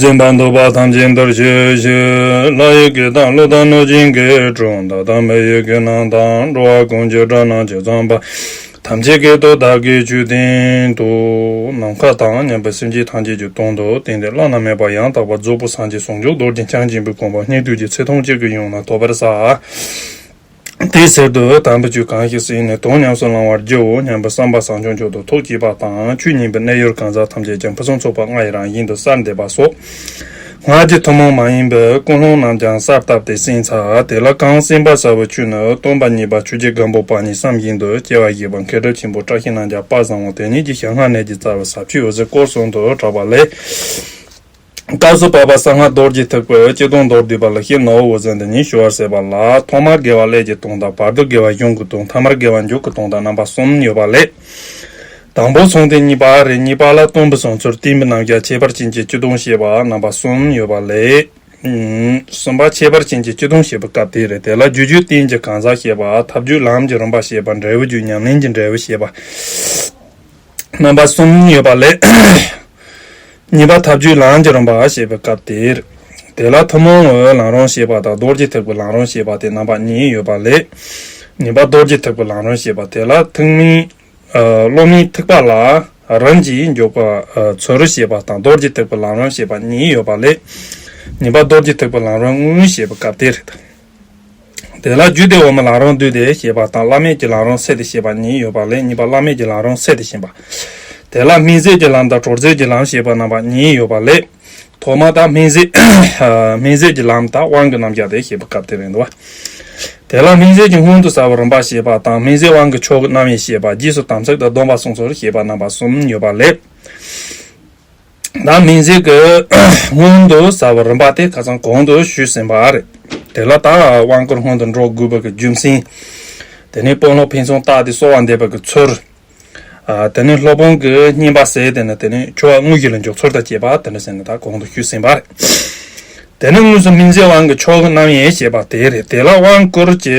སེམས་དཔའ་འདུ་བ་ཐམས་ཅད་འདིར་བྱོས་ཤིག། ལྷ་ཡི་གེ་དང་གླུ་དང་གནོད་སྦྱིན་གྱི་གྲོང་མདའ་དང་མེ་ཡི་གེ་རྣམས་དང་འགྲོ་བ་ཀུན་གྱི་སྒྲ་སྣང་བྱེད་ཚངས་པ་ཐམས་ཅད་ཀྱི་དོ་བདག་གི་མཆོད་རྟེན་དུ། ནམ་མཁའ་དང་མཉམ་པའི་སེམས་ཅན་ཐམས་ཅད་ཀྱི་དོན་དུ་བསྟན་ཏེ་བླ་ན་མེད་པ་ཡང་དག་པ་རྫོགས་སྐུ་སངས་རྒྱས་ཟུང་འཇུག་རྡོ་རྗེ་འཆང་ཆེན་པོའི་དགོངས་པ་སྙིང་ཐུགས་ཀྱི་ཚེ་ཐམས་ཅད་ཀྱི་ཡུམ་ལ་ཐོབ་པར་བསགས། དེའི་ཟེར་དུ་དམ་པའི་ཆོས་གང་ཞིག་ཟིན་ནས་དོན་ཉམས་སུ་བླང་བར་བགྱིའོ་སྙམ་པའི་བསམ་པ་བཟང་ཆུང་མཆོག་ཏུ་ཐུགས་བགྱིས་པ་དང་ཆོས་ཉན་པའི་གནས་ཡུལ་གང་ཟག་ཐམས་ཅད་ཀྱང་ཕུན་སུམ་ཚོགས་པ་ལྔ་ཡི་རང་བཞིན་དུ་གསར་འདེབས་པ་སོགས་སྔར་གྱི་ཐུན་མོང་མ་ཡིན་པའི་ཀུན་སློང་རྣམས་ཀྱང་གསར་བཏབ་སྟེ་བསྲིངས་ཚར་དེ་ལ་གང་བསྲིངས་པ་གསར་བའི་ཆོས་ནི་སྟོང་པ་ཉིད་པ་ཆོས་རྗེ་སྒམ་པོ་པ་ཉིད་བསམ་བཞིན་དུ་སྐྱེ་བ་བཞེས་པ་མཁས་གྲུབ་ཆེན་པོ་བཀྲ་ཤིས་རྣམ་རྒྱལ་དཔལ་བཟང་བོ་དེ་ཉིད་ཀྱི་ཞལ་སྔ་ནས་ཀྱི་རྩ་བའི་ཟབ་ཆོས་འོད་ཟེར་སྐོར་གསུམ་དུ་གྲགས་པ་ལས། རྟ་བཟོ་པ་པ་ས་སྔགས་རྡོར་གྱིས་ཐུགས་བོད་སྤྱི་དོན་མདོར་བསྡུས་པ་ལ་ཤེས་ནོར་བུ་ཟན་དེ་ཉིད་ཞུ་བར་ཟེར་བ་ལ་ཐོག་མར་དགེ་བ་ཀླད་ཀྱི་དོན་དང་བར་དུ་དགེ་བ་གཞུང་གི་དོན་ཐ་མར་དགེ་བ་མཇུག་གི་དོན་དང་རྣམ་པ་གསུམ་ཡོད་པ་ལས། དང་པོ་ཚོང་དེ་གཉིས་པ་རེ་གཉིས་པ་ལ་སྟོན་པའི་བཟང་ཚུལ་བསྟན་པའི་རྣམ་གཞག་ཁྱད་པར་ཅན་གྱི་སྤྱི་དོན་ཞེས་པ་རྣམ་པ་གསུམ་ཡོད་པ་ལས། གསུམ་པ་ཁྱད་པར་ཅན་གྱི་སྤྱི་དོན་ཞེས་པའི་སྐབས་དེ་རེད་དེ་ལ་རྒྱུ་རྒྱུད་བསྟན་གྱི་གང་ཟག་ཞེས་པ་ཐབས་རྒྱུད་ལམ་གྱི་རིམ་པ་ཞེས་པ་འབྲས་བུ་རྒྱུད་ཉམས་ལེན་གྱི་འབྲས་བུ་ཞེས་པ། རྣམ་པ་གསུམ་ཡོད་པ་ལས། གཉིས་པ་ཐབས་ཇུས་ལམ་གྱི་རིམ་པ་ཞེས་པའི་སྐབས་དེར། དེ་ལ་ཐུན་མོང་ངོ་བོའི་ལམ་རིམ་ཞེས་པ་དང་རྡོ་རྗེ་ཐེག་པའི་ལམ་རིམ་ཞེས་པ་དེ་རྣམ་པ་གཉིས་ཡོད་པ་ལས། ནི་པ་རྡོ་རྗེ་ཐེག་པའི་ལམ་རིམ་ཞེས་པ་དེ་ལ་ཐུན་མིན། བློ་མིག་ཐིགས་པ་ལ་རིམ་གྱིས་འཇུག་པ་ཚུ་རུ་ཞེས་པ་དང་རྡོ་རྗེ་ཐེག་པའི་ལམ་རིམ་ཞེས་པ་གཉིས་ཡོད་པ་ལས། ནི་པ་རྡོ་རྗེ་ཐེག་པའི་ལམ་རིམ་དངོས་ཞེས་པའི་སྐབས་དེར། དེ་ལ་རྒྱུད་སྡེ་འོག་མའི་ལང་རོང་འདུས་ཏེ་ཞེས་པ་དང་བླ་མེད་ཀྱི་ལང་རོང་སད་དེ་ཞེས་པ་གཉིས་ཡོད་པ་ལས་གཉིས་པ་བླ་མེད་ཀྱི་ལང་རོང་སད་དེ་བཞིན་པ། དེ་ལ་སྨིན་བསྲེག་གི་ལམ་དང་གྲོགས་མཛད་ཀྱི་ལམ་ཞེས་པ་རྣམ་པ་གཉིས་ཡོད་པ་ལས། ཐོག་མ་དང་སྨིན་བསྲེག་སྨིན་བསྲེག་གི་ལམ་དང་དབང་གི་རྣམ་གཞག་དེ་ཞེས་པ་སྐབས་དེ་རིང་དུ་བ། དེ་ལ་སྨིན་བསྲེག་གི་སྔོན་དུ་ཟ་བ་རིམ་པར་ཞེས་པ་དང་སྨིན་བསྲེག་དབང་གི་མཆོག་གི་རྣམ་དབྱེ་ཞེས་པ་རྗེས་སུ་དམ་ཚིག་དང་སྡོམ་པ་གསུངས་སོ་ཞེས་པ་རྣམ་པ་གསུམ་ཡོད་པ་ལས། ནང་མིང་ཚིག་གི་སྔོན་དུ་ཟ་བ་རིམ་པ་དེ་ཁ་ཚང་གོང་དུ་ཞུས་ཟིན་པ་རེད། དེ་ལ་དྭགས་དབང་བསྐུར་སྔོན་དུ་འགྲོ་དགོས་པ་གི་རྒྱུ་མཚན། དེ་ནི་དཔོན་སློབ་ཕན་ཚུན་བརྟགས་ཏེ་གསོལ་བ་འདེབས་པ་གི་ཚུལ། དེ་ནི་སློབ་དཔོན་གི་བསྙེན་པ་ཟེར་དེ་ནི་དེ་ནི་ཆོ་ག་དངོས་གཞི་ལ་འཇོག་ཚུལ་དང་བཅས་པ་དེ་འདྲ་ཟེར་ནས་དྭགས་གོང་དུ་ཞུས་ཟིན་པ་རེད། དེ་ནི་དངོས་སུ་མིང་ཚིག་དབང་གི་ཕྱོགས་རྣམ་དབྱེ་ཞེས་པ་དེ་རེད། དེ་ལ་དབང་བསྐུར་གྱི་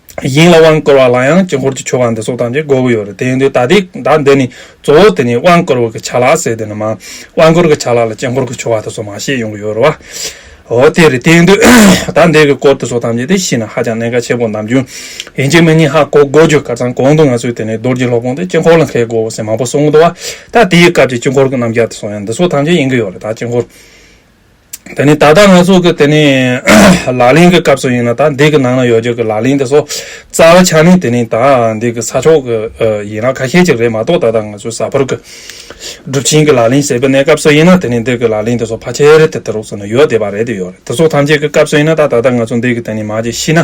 དབྱིངས་ལ་དབང་བསྐུར་བ་ལ་ཡང་དཀྱིལ་འཁོར་གྱི་ཆོ་ག་འདི་སོགས་དང་བཅས་དགོས་ཀྱི་ཡོད་རེད་དེ་ཡིན་དུས་ད་ལྟའི་བརྡ་འདི་ནི་གཙོ་བོ་དེ་ནི་དབང་བསྐུར་བ་གི་ཆ་ལག་ཟེར་དེ་ནི་མ་དབང་བསྐུར་གི་ཆ་ལག་ལ་དཀྱིལ་འཁོར་གྱི་ཆོ་ག་དེ་སོགས་མ་ཤེས་ཡོང་གི་ཡོད་རེད་བ། འོ་དེ་རེད་དེ་ཡིན་དུས་བརྡ་འདི་གི་སྐོར་དེ་སོགས་ཐམས་ཅད་དེ་ཤེས་ན་ཧ་ཅང་གནད་འགག་ཆེ་པོ་ནམ་རྒྱུན་ཡིན་གཅིག་མིན་གཉིས་ཧ་གོ་དགོས་རྒྱུ་ག་ཙམ་གོང་དུ་ང་ཚོས་དེ་ནི་རྡོར་གྱི་སློབ་ཁོངས་དེ་དཀྱིལ་འཁོར་ལ་མཁས་དགོས་བ་ཟེར་མང་པོ་གསུངས་འདུག་བ། ད་དེའི་སྐབས་ཀྱི་དཀྱིལ་འཁོར་གྱི་རྣམ་རྒྱལ་དེ་སོགས་ཡང་འདི་སོགས་ཐམས་ཅད་ཡིན་གྱི་ཡོད་རེད་ད་དཀྱིལ་འཁོར། དེ་ནི་ད་ལྟ་ང་ཚོ་གི་དེ་ནི་ལག་ལེན་གི་སྐབས་སུ་ཡིན་ན་ད་འདི་གི་ནང་ན་ཡོད་རྒྱུ་གི་ལག་ལེན་དེ་ཚོ་རྩ་བ་ཆགས་ནས་དེ་ནི་ད་འདི་གི་ས་ཕྱོགས་གི་ཡིན་ན་ཁ་ཤས་ཅིག་རེད་མ་གཏོགས་ད་ལྟ་ང་ཚོའི་ས་ཕོར་གི་སྒྲུབ་ཆེན་གི་ལག་ལེན་ཟེར་པའི་གནས་སྐབས་སུ་ཡིན་ན་དེ་ནི་འདི་གི་ལག་ལེན་དེ་ཚོ་ཕ་ཆེར་དེ་དེ་རོགས་སུ་ནི་ཡོད་བསྡད་པ་རེད་དེ་ཡོད་རེད་དེ་ཚོ་ཐམས་ཅད་གི་སྐབས་སུ་ཡིན་ན་ད་ད་ལྟ་ང་ཚོ་འདི་གི་དེ་ནི་མ་ཅིག་ཤི་ན་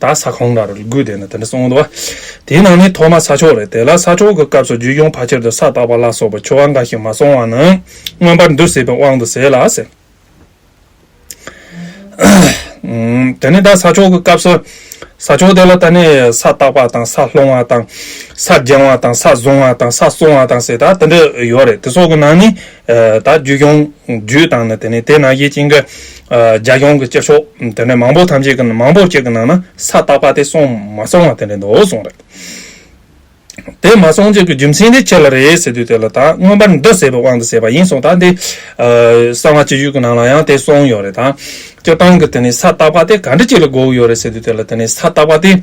ད་ས་གང་ལ་རུ་ལུ་གུ་དེ་ནི་དེ་འདྲ་གསུངས་འདུག་དེའི་ནང་ནས་ཐོག་མ་ས་ཆོག་རེད་དེ་ལ་ས་ཆོག་གི་སྐབས་སུ་རྒྱུད་གཡུང་བ་ཁྱེར་དུ་ས་བཏགས་པ་ལ་སོགས་པའི་ཆོ་ག་འགའ་ཞིག་མ་སོང་བ་ནི་མངོན་པར་འདུ་ཟེར་བའི་དབང་དུ་ཟད་ལ་ཟེར། དེ་ནས་ད་ས་ཆོག་གི་སྐབས་སུ་ས་ཆོག་དེ་ལ་ད་ནི་ས་བཏགས་པ་དང་ས་སློང་བ་དང། ས་སྦྱང་བ་དང་ས་བཟུང་བ་དང་ས་བསྲུང་བ་དང་ཟེར་ད་དེ་འདྲ་ཡོད་རེད་དེ་སོགས་ཀྱི་ནང་ནས་ད་རྒྱུད་གཡུང་རྒྱུད་དང་ནི་དེ་ནས་དེ་ན་ཡེ་གཅིག་འགའ་རྒྱ་སྐྱོང་གི་སྐྱེ་ཆོག་དེ་ནས་མང་བོ་ཐམས་ཅད་ཀྱི་མང་བོ་བཅས་ཀྱི་ནང་ན་ས་བརྟག་པ་དེ་སོང་མ་སོང་བ་དེ་འདྲའི་མདོ་སོང་རེད། དེ་མ་སོང་རྗེས་ཀྱི་རྒྱུ་མཚན་དེ་ཁྱེད་ལ་རེད་ཟེར་དུས་དེ་ལ་ད་མངོན་པར་འདི་ཟེར་བའི་དབང་དུ་བྱས་པ་ཡིན་སོང་ད་འདི་གསང་བ་སྤྱི་བཅུ་གྱི་ནང་ལ་ཡང་དེ་སོང་ཡོད་རེད་ད་སྤྱིར་བཏང་གི་དེ་ནས་ས་བརྟག་པ་དེ་ག་འདྲི་ཅིག་ལ་དགོས་ཀྱི་ཡོད་རེད་ཟེར་དུས་དེ་ལ་དེ་ནས་ས་བརྟག་པ་དེ།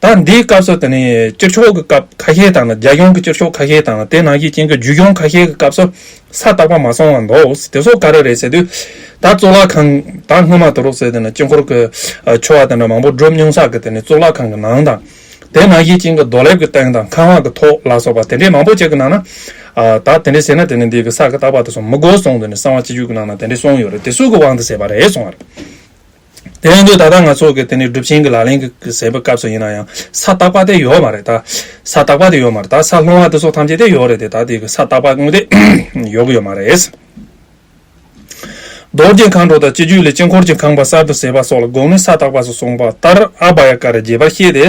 ད་འདིའི་སྐབས་སུ་དེ་ནི་སྤྱིར་ཕྱོགས་ཀྱི་སྐབས་ཁ་ཤས་དང་རྒྱལ་ཡོངས་ཀྱི་སྤྱིར་ཕྱོགས་ཁ་ཤས་དང་དེ་ནང་བཞིན་ཅན་གྱི་རྒྱུད་སྐྱོང་ཁ་ཤས་ཀྱི་སྐབས་སུ་ས་བརྟག་པ་མ་སོང་བར་འདོགས་དེ་སོགས་ག་རེ་རེད་ཟེར་དུས། ད་གཙུག་ལག་ཁང་ད་སྔོན་མ་དུ་རུ་སོས་དེ་ནི་དཀྱིལ་འཁོར་གྱི་ཆོ་བ་དེ་འདྲ་མང་པོ་སྒྲུབ་མྱོང་ས་གི་དེ་ནི་གཙུག་ལག་ཁང་གི་ནང་དང། དེ་ནང་བཞིན་ཅན་གྱི་རྡོ་ལེབ་ཀྱི་སྟེང་དང་ཁང་བ་གྱི་ཐོག་ལ་སོགས་པ་དེ་འདྲས་མང་པོ་ཅིག་གི་ནང་ན། ད་དེ་འདྲས་ཟེར་ན་དེ་ནི་འདི་གི་ས་གི་བརྟག་པ་དེ་སོང་མི་དགོས་སོང་དེ་ནི་གསང་བ་སྤྱི་རྒྱུད་ཀྱི་ནང་ན་དེ་འདྲས་སོང་ཡོད་རེད་དེ་སུས་གི་དབང་དུ་བྱས་པ་རེད་སོང་བར། དེ་ཡང་དུས་ད་ལྟ་ང་ཚོ་གི་དེ་ནི་སྒྲུབ་ཆེན་གྱི་ལག་ལེན་གྱི་ཟེར་བའི་སྐབས་སུ་ཡིན་ན་ཡང་ས་བརྟག་པ་དེ་ཡོད་མ་རེད་ད། ས་བརྟག་པ་དེ་ཡོད་མ་རེད་ད་ས་སློང་བ་དེ་སོགས་ཐམས་ཅད་དེ་ཡོད་རེད་དེ་ད་དེ་གི་ས་བརྟག་པ་དངོས་དེ་ཡོད་གི་ཡོད་མ་རེད། རྡོ་རྗེ་མཁའ་འགྲོ་དང་སྤྱི་རྒྱུད་ལས་དཀྱིལ་འཁོར་གྱི་ཁང་པ་གསར་དུ་བཟས་པ་སོགས་ལ་དགོངས་ནས་ས་བརྟག་པ་སོགས་གསུངས་པ་ལྟར་ཨ་བྷ་ཡ་ཀ་ར་རྒྱས་པར་བཤད་དེ།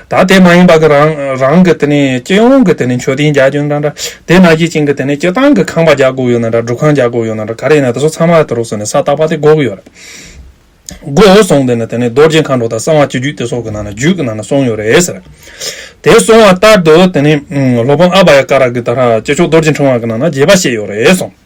དག་དེ་མ་ཡིན་པ་གི་རང་རང་གི་དེ་ནས་སྤྱི་ཡོངས་ཀྱི་དེ་ནས་མཆོད་རྟེན་རྒྱག་རྒྱུ་འདྲ་འདྲ་དེ་ན་གཞི་ཅིང་གི་དེ་ནས་སྤྱི་བཏང་གི་ཁང་པ་རྒྱག་དགོས་ཡོད་ན་འདྲ་འདྲུ་ཁང་རྒྱག་དགོས་ཡོད་ན་འདྲ་ག་རེ་ཡིན་ན་དེ་ཚོ་ཚང་མ་དེ་རུ་སོང་ནས་ས་བཏགས་པ་དེ་འགོག་གི་ཡོད་རེད། འགོག་སོང་དེ་ནས་དེ་ནས་རྡོ་རྗེ་མཁའ་འགྲོ་དང་གསང་བ་སྤྱི་རྒྱུད་དེ་སོགས་ཀྱི་ནང་ན་རྒྱུད་ཀྱི་ནང་ན་སོང་ཡོད་རེད་ཟེར། དེ་སོང་བ་ལྟར་དུ་དེ་ནས་སློབ་དཔོན་ཨ་བྷ་ཡ་ཀ་ར་གི་དྷ་ར་སྤྱི་ཆོག་རྡོ་རྗེ་འཕྲེང་བ་གི་ནང་ན་རྒྱས་པ་བཤད་ཡོད་རེད་གསུངས།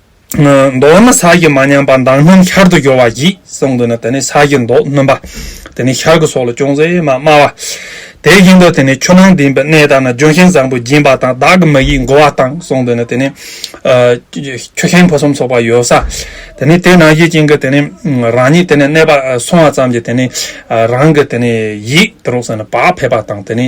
མདོར་ན་ས་ཀྱི་མ་ཉམས་པ་མདངས་སྣུམ་ཤར་དུ་རྒྱོ་བ་བགྱིད་གསུངས་འདུག་ན་དེ་ནི་ས་ཀྱི་མདོག་སྣུམ་པ། དེ་ནི་ཤར་གྱི་སོགས་ལ་ཅུང་ཟད་མ་དམའ་བ། དེ་བཞིན་དུ་དེ་ནི་ཆུ་ནང་ལྡིང་བའི་གནས་དག་ན་ལྗོན་ཤིང་བཟང་པོ་སྦྱིན་པ་དང་བདག་གི་མ་ཡིས་མགུ་བ་དང་གསུངས་འདུག་ན་དེ་ནི། ཆུ་ཤིང་ཕུན་སུམ་ཚོགས་པ་ཡོད་ས། དེ་ནི་དེ་ན་གཞི་བྱིན་གྱི་དེ་ནི་རང་ཉིད་དེ་ནས་གནས་པ་སོང་བ་ཙམ་གྱིས་དེ་ནི་རང་གི་དེ་ནི་ཡིད་དུ་རུང་ས་ནས་བག་ཕེབས་པ་དང་དེ་ནི།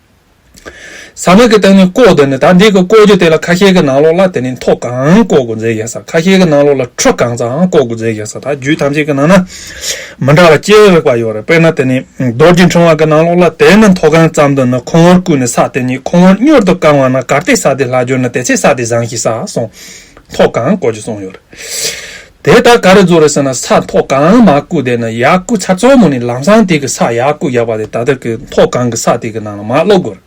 ཟ་མ་གི་སྟེང་ནས་བཀོག་དེ་ནི་ད་འདི་གི་བཀོག་རྒྱུ་དེ་ལ་ཁ་ཤས་ཀྱི་ནང་ལོགས་ལ་དེ་ནི་མཐོ་གང་བཀོག་དགོས་མཛད་ཡོད་ས་ཁ་ཤས་ཀྱི་ནང་ལོགས་ལ་ཁྲུ་གང་ཙམ་ཡང་བཀོག་དགོས་མཛད་ཡོད་ས་ད་རྒྱུད་ཐམས་ཅད་ཀྱི་ནང་ན་མི་འདྲ་བ་སྐྱེ་འོས་པ་ཡོད་རེད་དཔེར་ན་དེ་ནི་རྡོར་གྱི་འཕྲེང་བ་གི་ནང་ལོགས་ལ་དེ་ནི་མཐོ་གང་ཙམ་དུ་ནི་ཁོང་བོར་བསྐུས་ནས་ས་དེ་ཉིད་ཁོང་བོར་སྙོར་དུ་བཀང་བ་ན་གར་སྟེགས་ས་དེ་ལྷག་གྱུར་ན་དེ་ཚེ་ས་དེ་བཟང་ཞིག་ས་སོང་མཐོ་གང་བཀོག་རྒྱུ་སོང་ཡོད་རེད། དེ་ད་ག་རེ་རྫོགས་རེད་ཟེར་ན་ས་མཐོ་གང་མ་བརྐུས་བསྡད་ན་ཡར་བརྐུས་ཚར་གཙོ་མོ་ནི་ལམ་སང་དེ་གི་ས་ཡར་བརྐུས་རྒྱག་པ་དེ་ད་ལྟ་གི་མཐོ་གང་གི་ས་དེ་གི་ནང་ལ་མ་སློག་དགོས་རེད།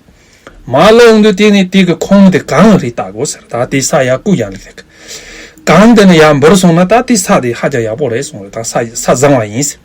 མ་སློག་འོང་དུས་དེ་ནི་དེ་གི་ཁོངས་དེ་གང་རེད་བལྟ་དགོས་ཟེར་ད་དེ་ས་ཡར་བརྐུས་རྒྱག་ལེགས་རེད། གང་བལྟས་ན་ཡར་འབུར་སོང་ན་ད་དེ་ས་དེ་ཧ་ཅང་ཡག་པོ་རེད་གསུངས་རེད་ད་ས་བཟང་བ་ཡིན་ཟེར།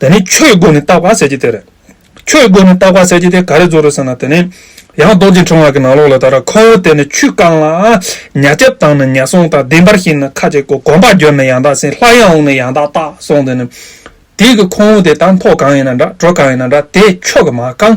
དེ་ནས་ཆོས་སྒོ་ནས་བརྟག་པ་གསལ་བྱེད་དེ་རེད། ཆོས་སྒོ་ནས་བརྟག་པ་གསལ་བྱེད་དེ་ག་རེ་ཚོར་རེད་ཟེར་ན་དེ་ནི། ཡང་རྡོ་རྗེ་འཕྲེང་བ་གི་ནང་ལོགས་ལ་ད་ར་ཁོ་བོ་དེ་ནི་ཆུས་བཀང་ལ། ཉྭ་སྐྱབས་དང་ནི་ཉྭ་སྲུང་དག་བདེན་པར་ཤེས་ནས་ཁ་ཅིག་གོ་གོམ་པ་གྱོན་ནས་ཡང་དག་ཟིན་ལྷ་ཡང་འོངས་ནས་ཡང་དག་བརྟག་སོང་དེ་ནི། དེའི་གི་ཁོ་བོ་དེ་དང་ཐོག་གང་ཡིན་ན་འདྲ་གྲོ་གང་ཡིན་ན་འདྲ་དེ་ཆོས་གི་མ་བཀང།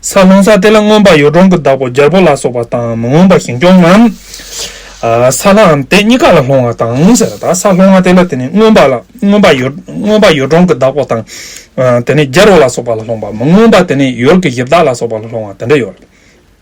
ས་སློང་ས་དེ་ལ་མངོན་པར་ཡོ་བྲོང་གི་བདག་པོ་རྒྱལ་པོ་ལ་སོགས་པ་དང་མི་མངོན་པ་ཞིང་སྐྱོང་ངམ། ས་ལའམ་དེ་གཉིས་ཀ་ལ་སློང་བ་དང་ཟེར་བ་དང་ས་སློང་བ་དེ་ལ་དེ་ནི་མངོན་པར་མངོན་པ་ཡོ་བྲོང་གི་བདག་པོ་དང། དེ་ནི་རྒྱལ་པོ་ལ་སོགས་པ་ལ་སློང་བ་མི་མངོན་པ་དེ་ནི་ཡོལ་གྱི་གཞི་བདག་ལ་སོགས་པ་ལ་སློང་བ་དེ་འདྲ་ཡོད།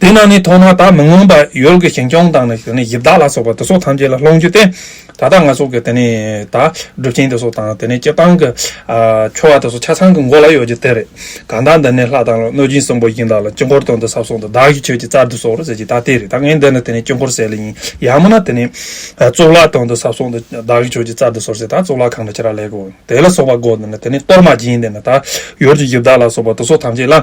དེ་རྣམས་ནི་མཐོང་སྣང་དག་མི་མངོན་པར་ཡུལ་གྱི་ཞིང་སྐྱོང་དང་ནི་ཡི་དྭགས་ལ་སོགས་པ་དེ་སོགས་ཐམས་ཅད་ལ་སློང་རྒྱུ་སྟེ། ད་ལྟ་ང་སོགས་ཀྱི་དེ་ནི་དག་སྒྲུབ་ཆེན་དེ་སོགས་དང་དེ་ནི་སྤྱི་བཏང་གི། ཆོ་བ་དེ་སོགས་ཆ་ཚང་གི་མགོ་ལ་ཡོད་རྒྱུ་དེ་རེད། གང་དག་འདི་ནི་ལྷ་དང་གནོད་སྦྱིན་གསུམ་པོ་བཞིན་དག་ལ་དཀྱིལ་འཁོར་དོན་དུ་ཟབ་སོགས་འདི་བདག་གི་ཆོས་ཀྱི་རྩར་དུ་སོགས་རོ་ཟེར་གྱི་དག་དེ་རེད་ད་ངས་འདི་ནི་དེ་ནི་དཀྱིལ་འཁོར་གསལ་ལེ་ཡིན། ཡང་མིན་ན་དེ་ནི། གཙུག་ལག་དོན་དུ་ཟབ་སོགས་འདི་བདག་གི་ཆོས་ཀྱི་རྩར་དུ་སོགས་ཟེར་དང་གཙུག་ལག་ཁང་དུ་ཁྱེར་བ་ལེགས། དེ་ལ་སོགས་པ་སྒོ་འདི་ནི་དེ་ནི་གཏོར་མ་སྦྱིན་འདི་ནི་དག་ཡོད་ཀྱི་ཡི་དྭགས་ལ་སོགས་པ་དེ་སོགས་ཐམས་ཅད་ལ།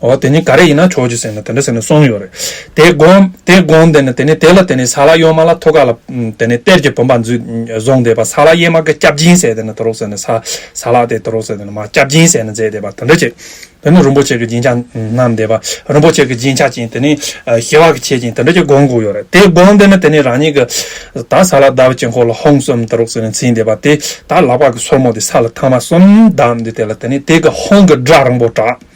འོ་དེ་ནི་ག་རེ་ཡིན་ན་ཆོག་ཅེས་ཟེར་ནས་དེ་འདྲ་ཟེར་ནས་སོང་ཡོད་རེད། དེ་དགོངས་དེ་དགོངས་དེ་ནི་དེ་ནི་དེ་ལ་དེ་ནི་ས་ལ་གཡོག་མ་ལ་ཐོ་ག་ལ་དེ་ནི་གཏེར་གྱི་བུམ་པ་འཛུད་བཟུང་དེ་པ་ས་ལ་གཡེར་མ་གི་སྐྱབས་སྦྱིན་ཟེར་དེ་ནི་དུ་རོག་ཟེར་ནས་ས་ས་ལ་དེ་དུ་རོག་ཟེར་དེ་ནི་མ་སྐྱབས་སྦྱིན་ཟེར་ནས་མཛད་དེ་པ་དེ་འདྲ་བྱེད། དེ་ནི་རིན་པོ་ཆེ་གི་སྦྱིན་བྱ་རྣམས་དེ་པ་རིན་པོ་ཆེ་གི་སྦྱིན་བྱ་ཅན་དེ་ནི་ཞི་བ་གི་ཆེ་ཅན་དེ་འདྲ་ཅེས་དགོངས་དགོས་ཡོད་རེད་དེ་དགོངས་དེ་ནི་དེ་ནི་རང་ཉིད་ཀྱི་ད་ས་ལ་བདག་བུ་ཆེན་ཁོ་ལ་ཧོང་གསུམ་དུ་རོག་ཟེར་ནས་འཚིག་དེ་པ་དེ་ད་ལག་པ་གི་སོར་མོ་དེ་ས་ལ་ཐང་མ་གསུམ་བསྡམས་དེ་དེ་ལ་དེ་ནི་དེ་གི་ཧོང་གི་སྒྲ་རིང་པོ་གྲགས།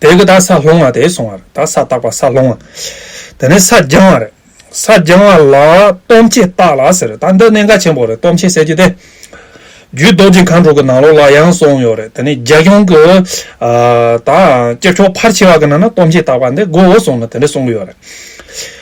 བདག་གི་དག་ས་སློང་བ་དེ་སོང་བར་དག་ས་བཏགས་པ་ས་སློང་བ། དེ་ནས་ས་སྦྱང་བ་རེད། ས་སྦྱང་བ་ལ་སྟོབས་ཆེ་བཏགས་ལ་ཟེར་རེད་ད་འདི་གནད་འགག་ཆེན་པོ་རེད་སྟོབས་ཆེ་ཟེར་གྱི་དེ། རྒྱུད་རྡོ་རྗེ་མཁའ་འགྲོ་གི་ནང་ལོགས་ལ་ཡང་སོང་ཡོད་རེད་དེ་ནས་རྒྱ་གཞུང་གི། ད་སྐྱབས་མཆོག་ཕར་ཆེ་བ་གི་ནང་ན་སྟོབས་ཆེ་བཏགས་པ་འདི་མགོ་བོ་སོང་ནས་དེ་འདྲ་གསུང་གི་ཡོད་རེད།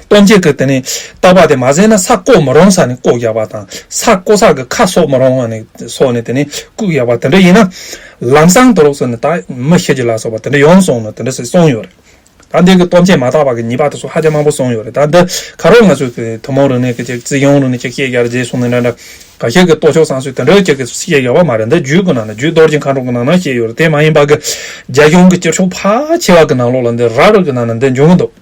སྟོང་འཇལ་སྐབས་དེ་ནི་ལྟག་པ་དེ་མ་བཟད་ན་ས་བརྐོ་མི་རུང་ས་ནི་བརྐོ་རྒྱག་པ་དང་ས་བརྐོ་ས་གི་ཁ་གསོ་མི་རུང་བ་ནི་སོགས་ནི་དེ་ནི་བརྐུ་རྒྱག་པ་དེ་འདྲ་ཡིན་ན། ལམ་སང་དུ་ལོག་སོང་ནི་ད་མི་ཤེས་ཀྱི་ལ་སོགས་པ་དེ་འདྲ་ཡོང་སོང་ནི་དེ་འདྲ་སི་སོང་ཡོད་རེད། ད་འདི་གི་སྟོང་འཇལ་མ་བཏགས་པ་གི་ཉིས་པ་དེ་སོགས་ཧ་ཅང་མང་པོ་སོང་ཡོད་རེད་ད་འདི་ག་རོག་ང་ཚོས་གི་ཐུན་མོང་རིག་གནས་ཀྱི་ཅིག་ཙི་ཡོང་རུང་ནི་ཅིག་བཤད་རྒྱར་མཛེས་སོང་ནི་འདྲ་འདྲ་ག་ཤེད་གི་ལྟོ་ཕྱོགས་སང་སོས་དེ་འདྲ་ཅིག་གི་བཤད་རྒྱ་བ་མ་རེད་འདི་རྒྱུད་ཀྱི་ནང་ན་རྒྱུད་རྡོར་གྱི་མཁའ་འགྲོ་གི་ནང་ན་བཤད་ཡོད་རེད་དེ་མ་ཡིན་པ་གི་རྒྱ་གཞུང་གི་སྤྱིར་ཕྱོགས་ཕ་ཆེ་བ་གི་ནང་ལོགས་ལ་འདི་ར་རུ་གི་ནང་ན་འདི་འབྱུང་གི་འདུག།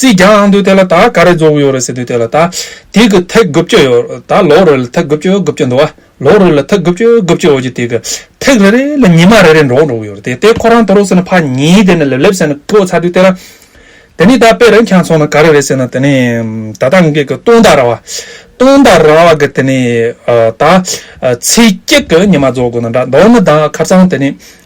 རྩིས་རྒྱག་ཨང་དུས་དེ་ལ་ད་ག་རེ་རྫོགས་གི་ཡོད་རེད་ཟེར་དུས་དེ་ལ་ད་དེ་གི་ཐེག་དགུ་བཅུ་ཡོད་རེད་ད་ལོག་རེ་ལ་ཐེག་དགུ་བཅུ་དགུ་བཅུ་འདུག་ཨ་ལོག་རེ་ལ་ཐེག་དགུ་བཅུ་དགུ་བཅུ་འོག་གི་དེ་གི་ཐེག་རེ་རེ་ལ་ཉི་མ་རེ་རེ་འགྲོ་འགྲོ་གི་ཡོད་རེད་དེ་ལྟའི་ཁོ་རང་དུ་རོགས་ཟེར་ན་ཕག་ཉིན་དེ་ནས་ལེབ་ལེབ་ཟེར་ན་ཀི་བོ་ཚ་དུས་དེ་ལ། དེ་ནས་ད་དཔེ་རེ་འཁྱག་ཚོང་ན་ག་རེ་རེད་ཟེར་ན་དེ་ནས་ད་ད་ངེད་ཀྱི་སྟོང་དང་ར་བ། སྟོང་དང་ར་བ་གི་དེ་ནས་ད་ཚེས་གཅིག་གི་ཉི་མ་རྫོགས་དགོས་ན་འདྲ་མདོར་ན་ད་ཁ་བསང་དེ་ནས་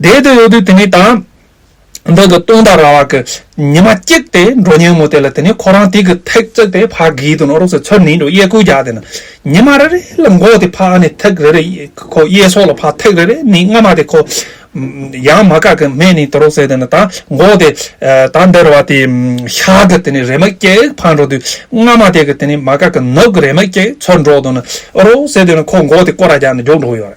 དེའི་དོན་ཡོད་དུས་དེ་ནི་དང། བདག་གི་སྟོང་དང་ར་བ་ཀི། ཉི་མ་གཅིག་སྟེ་འགྲོ་སྙན་མོ་དེ་ལ་དེ་ནི་ཁོ་རང་དེ་གི་ཐེག་བརྩེགས་ཏེ་ཕ་གིའི་དུ་ནོར་རོགས་སེ་ཚོད་ནི་འགྲོ་གཡས་སྐུལ་བརྒྱག་དེ་ན་ཉི་མ་རེ་རེ་ལ་འགོག་དེ་ཕ་ཨ་ནི་ཐེག་རེ་རེ་ཁོ་གཡས་སོགས་ལ་ཕ་ཐེག་རེ་རེ་ནི་སྔ་མ་དེ་ཁོ། ཡང་མ་ག་གི་མས་ནི་དུ་རོགས་སེ་དེ་ན་ད་འགོག་དེ། ད་འདིར་བ་དེ་ཤ་གི་དེ་ནི་རེ་མ་གེགས་ཕ་འགྲོ་དུས་སྔ་མ་དེ་གི་དེ་ནི་མ་ག་གི་ནུབ་གི་རེ་མ་གེགས་ཚོད་འགྲོག་དུ་ན་རོགས་སེ་དེ་ན་ཁོ་འགོག་དེ་ཀོ་ར་བརྒྱག་ནི་འཇོག་འགྲོ་གཡོ་རེ།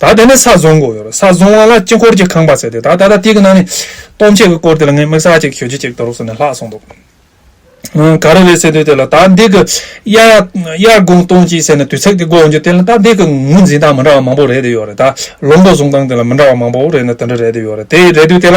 ད་དེ་ནས་ས་བཟུང་གོ་ཡོད་རེད་ས་བཟུང་བ་ལ་དཀྱིལ་འཁོར་གྱི་ཁང་པ་བརྩེགས་ཏེ་ད་ད་ལྟ་དེ་གི་ནང་ནས་སྟོང་ཆད་གི་སྐོར་དེ་ལ་ངས་དམིགས་བསལ་གཅིག་ཞུ་རྒྱུ་གཅིག་འདུག་ཟེར་ནས་ལྷག་སོང་འདུག་ཨང་ག་རེ་རེད་ཟེར་དུས་དེ་ལ་ད་འདི་གི་དབྱར་དབྱར་དགུན་སྟོང་གཅིག་ཟེར་ནས་དུས་ཚིགས་དེ་འགོ་འོང་རྒྱུ་དེ་ལ་ད་འདི་གི་ངོས་འཛིན་སྟངས་མི་འདྲ་བ་མང་པོ་རེད་དེ་ཡོད་རེད་ད་ལོ་འགོ་བཟུང་སྟངས་དེ་ལ་མི་འདྲ་བ་མང་པོ་རེད་ན་དེ་འདྲ་རེད་དེ་ཡོད་རེད་དེ་རེད་དུས་དེ་ལ་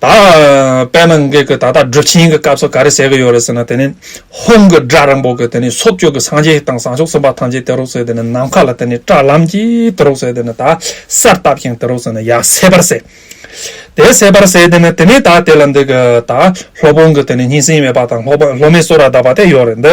ད་དཔེར་ན་འགས་ཀྱི་ད་ལྟ་སྒྲུབ་ཆེན་གྱི་སྐབས་སུ་ག་རེ་ཟེར་གྱི་ཡོད་རེད་ཟེར་ན་དེ་ནི་ཧོམ་གྱི་སྒྲ་རིང་པོ་གྱི་དེ་ནི་སོ་བཅུ་གྱི་སངས་རྒྱས་དང་བཟང་ཕྱོགས་གསུམ་པ་ཐམས་ཅད་དེ་རོགས་ཟེར་དེ་ནི་ནམ་མཁའ་ལ་དེ་ནི་བཀྲག་ལམ་གྱི་དེ་རོགས་ཟེར་དེ་ནི་ད་སར་བཏབ་ཞིང་དེ་རོགས་ཟེར་ན་ཡ་སེ་བར་ཟེར། དེ་སེ་བར་ཟེར་དེ་ནི་དེ་ནས་ད་དེ་ལ་འདི་གི་ད་ལྷོ་སྤུངས་ཀྱི་དེ་ནི་སྙིང་སེང་མེད་པ་དང་ལྷོ་མའི་སོ་ར་བརྡབས་པ་དེ་ཡོད་རེད་འདི།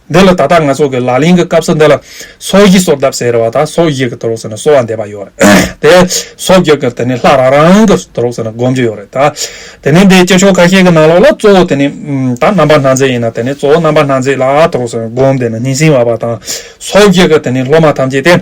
འདི་ལ་ད་ལྟ་ང་ཚོ་གི་ལག་ལེན་གི་སྐབས་སུ་འདི་ལ་སོ་བཞི་སོར་བརྡབ་ཟེར་བ་དང་སོ་བཞི་གི་དུར་ཁྲོག་ཟེར་ན་སོ་བ་འདེབས་པ་ཡོད་རེད་དེ། སོ་བརྒྱད་ཀྱི་དེ་ནི་ལྷ་རང་རང་གི་དུར་ཁྲོག་ཟེར་ན་སྒོམ་རྒྱུ་ཡོད་རེད་ད། དེ་ནི་འདིའི་སྤྱི་ཆོས་ཁ་ཤས་ཀྱི་ནང་ལོགས་ལ་གཙོ་བོ་དེ་ནི་ད་རྣམ་པ་སྣ་མཛེས་ཡིན་ན་དེ་ནི་གཙོ་བོ་རྣམ་པ་སྣ་མཛེས་ལ་དུར་ཁྲོག་ཟེར་ན་སྒོམ་དེ་ནི་སྙིང་སྲིང་བ་པ་དང། སོ་བརྒྱད་ཀྱི་དེ་ནི་སློབ་མ་ཐམས་ཅད་དེ།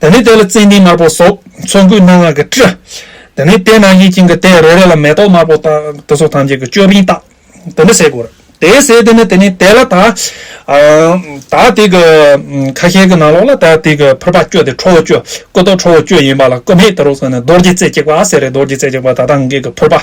དེ་ནས་དེ་ལ་ཙན་དན་དམར་པོ་སོགས་ཚོན་སྐུད་སྣ་ལྔ་གིས་དཀྲི། དེ་ནས་དེ་རྣམས་ཀྱིས་བྱིན་གྱིས་བརྟས་རེ་རེ་ལ་མེ་ཏོག་དམར་པོ་དང་དུ་སོགས་ཐམས་ཅད་ཀྱི་ཅོད་པན་བཏགས། དེ་འདྲ་བྱས་དགོས། དེ་ཟས་དེ་ནས་དེ་ནས་དེ་ལ་དག། དག་དེ་གི་ཁ་ཤས་ཀྱི་ནང་ལོགས་ལ་དག་དེ་གི་ཕུར་པ་བསྐྱོད་དེ་ཁྲོ་བོ་བསྐྱོད། སྐུ་དོག་ཁྲོ་བོ་བསྐྱོད་ཡིན་པ་ལ་སྐུ་མེད་དེ་རོ་ཟེར་ནས་རྡོ་རྗེ་རྩེ་གཅིག་པ་ཟེར་རེ་རྡོ་རྗེ་རྩེ་གཅིག་པ་དག་དག་འགེགས་ཀྱི་ཕུར་པ།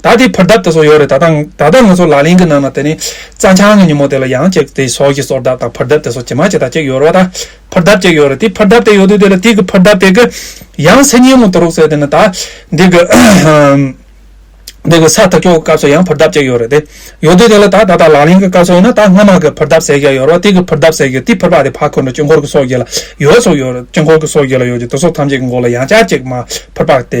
ད་དེ་ཕུར་གདབ་དེ་སོགས་ཡོད་རེད་ད་ལྟ་ང་ཚོ་ལག་ལེན་གྱི་ནང་ན་དེ་ནི་རྩ་འཆང་གི་ཉིན་མོ་དེ་ལ་ཡང་ཅིག་དེ་སོགས་ཀྱི་སོར་གདབ་དང་ཕུར་གདབ་དེ་སོགས་ཇི་མ་ཇི་ལྟར་ཅིག་ཡོད་རོགས་ད་ཕུར་གདབ་ཅིག་ཡོད་རེད་དེ་ཕུར་གདབ་དེ་ཡོད་དུས་དེ་ལ་དེ་གི་ཕུར་གདབ་དེ་གི་ཡང་མཚན་ཉིད་མོ་དུ་རོགས་ཟེར་དེ་ནི་ད་འདི་གི་འདི་གི་ས་ཐག་ཆོད་གི་སྐབས་སུ་ཡང་ཕུར་གདབ་ཅིག་ཡོད་རེད་དེ་ཡོད་དུས་དེ་ལ་ད་ད་ལྟ་ལག་ལེན་གྱི་སྐབས་སུ་ཡིན་ན་ད་སྔ་མ་གི་ཕུར་གདབ་ཟེར་གྱི་ཡོད་རོགས་དེ་གི་ཕུར་གདབ་ཟེར་གྱི་དེ་ཕུར་པ་དེ་ཕ་ཁོ་ནི་དཀྱིལ་འཁོར་གྱི་སོགས་ཀྱི་ལ་ཡོད་སོགས་ཡོད་རེད་དཀྱིལ་འཁོར་གྱི་སོགས་ཀྱི་ལ་ཡོད་ཀྱི་དེ་སོགས་ཐམས་ཅད་ཀྱི་མགོ་ལ་ཡང་ཅག་ཅིག་མ་ཕུར་པ་དེ།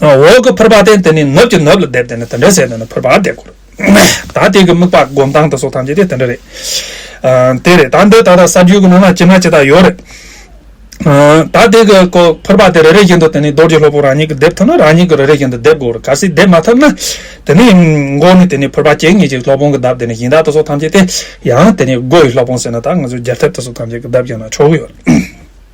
འོག་གི་ཕུར་པ་སྟེ་འདི་ནི་ནུབ་ཀྱི་ནུབ་ལ་བསྡེབས་ཏེ་ནི་དེ་འདྲའི་ཟས་དེ་ནི་ཕུར་པར་བསྡེབ་དགོས། ད་དེ་གི་དམིགས་པ་སྒོམ་སྟངས་དང་སོགས་ཐམས་ཅད་དེ་འདྲ་རེད། དེ་རེད་ད་འདི་ད་ལྟ་ས་རྒྱུས་ཀྱི་ནང་ན་ཅི་ན་ཅི་དག་ཡོད་རེད། ད་དེ་གི་ཀོ་ཕུར་པ་དེ་རེ་རེ་བཞིན་དུ་དེ་ནི་རྡོ་རྗེ་སློབ་བུ་རང་ཉིད་ཀྱིས་བསྡེབས་ཐུབ་ན་རང་ཉིད་ཀྱིས་རེ་རེ་བཞིན་དུ་བསྡེབ་དགོས་རེད་གལ་སྲིད་བསྡེབས་མ་ཐུབ་ན། དེ་ནི་མགོ་ནས་དེ་ནི་ཕུར་པ་ཅན་ཉིད་ཅིག་སློབ་དཔོན་གྱི་གདབ་དེ་ནི་གཞན་དག་ཏུ་སོགས་ཐམས་ཅད་དེ། ཡང་དེ་ནི་སྒོ་ཡི་སློབ་དཔོན་ཟེར་ན་ད་ང་ཚོས་རྒྱལ་ཐེབས་ཏུ་སོགས་ཐམས་ཅད་ཀྱི་གདབ་ཀྱང་ན་ཆོག་གི་ཡོད།